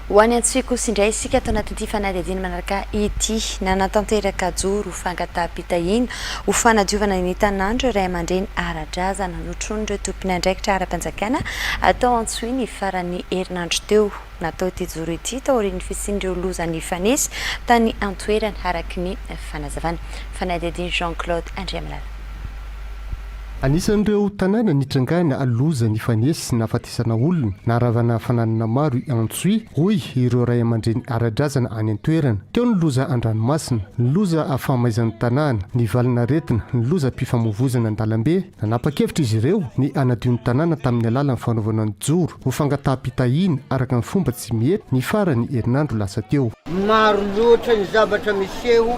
Ho any Antsohihy kosa indray isika ato anatin'ity fanadihadiana manaraka ity. Nanatanteraka joro fangataham-pitahiana ho fanadiovana ny tanàn'ireo ray aman-dreny ara-drazana notronin'ireo tompon'andraikitra ara-panjakana tao Antsohihy ny faran'ny herinandro teo. Natao ity joro ity taorian'ny fisian'ireo loza nifanesy tany an-toerana, araka ny fanazavana. Fanadihadian'i Jean Claude Andriamalala. Anisan'ireo tanàna nitrangana loza nifanesy sy nahafaty Isana olona na ravana fananana maro i Antsohihy, hoy ireo ray aman-dreny ara-drazana any an-toerana. Teo ny loza an-dranomasina, ny loza fahamaizan'ny tanàna, ny valin'aretina, ny lozam-pifamoivoizana an-dalambe. Nanapa-kevitra izy ireo ny hanadio ny tanàna tamin'ny alalan'ny fanaovana ny joro ho fangataham-pitahiana araka ny fomba tsy mety, ny faran'ny herinandro lasa teo. Maro loatra ny zavatra miseho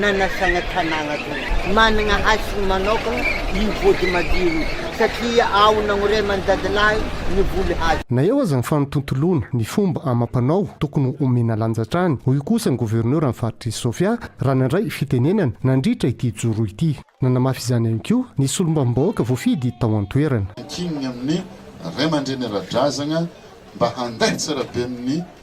nanasana tanàna teo. Manana hasiny manokana io vody madiro io satria ao nagnoreman'ny dadilahy ny voly hazo. Na eo aza ny fanotontoloana ny fomba amam-panao, tokony omena lanja hatrany, hoy kosa ny governoran'ny faritr'i Sofia raha nandray fitenenana nandritra ity joro ity. Nanamafy izany ihany koa ny solombavambahoaka voafidy tao an-toerana. Ankininy amin'ny Ray aman-dreny ara-drazagna mba handaintsara be amin'ny.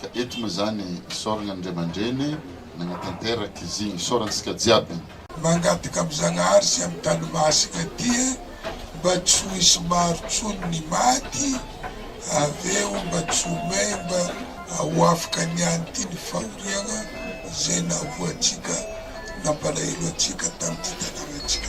Ka eto moa izany isaoragna Andriaman-dreny nagnatanteraka izy igny, isaorantsika jiaby. Mangataka am Zagnahary sy am tany masina ty e mba tsy ho hisy maro tsony ny maty aveo mba tsy ho may mba ahoafaka ny any ty ny fahoriagna zay nahoa antsika nampalahelo antsika tam ty tanagnatsika.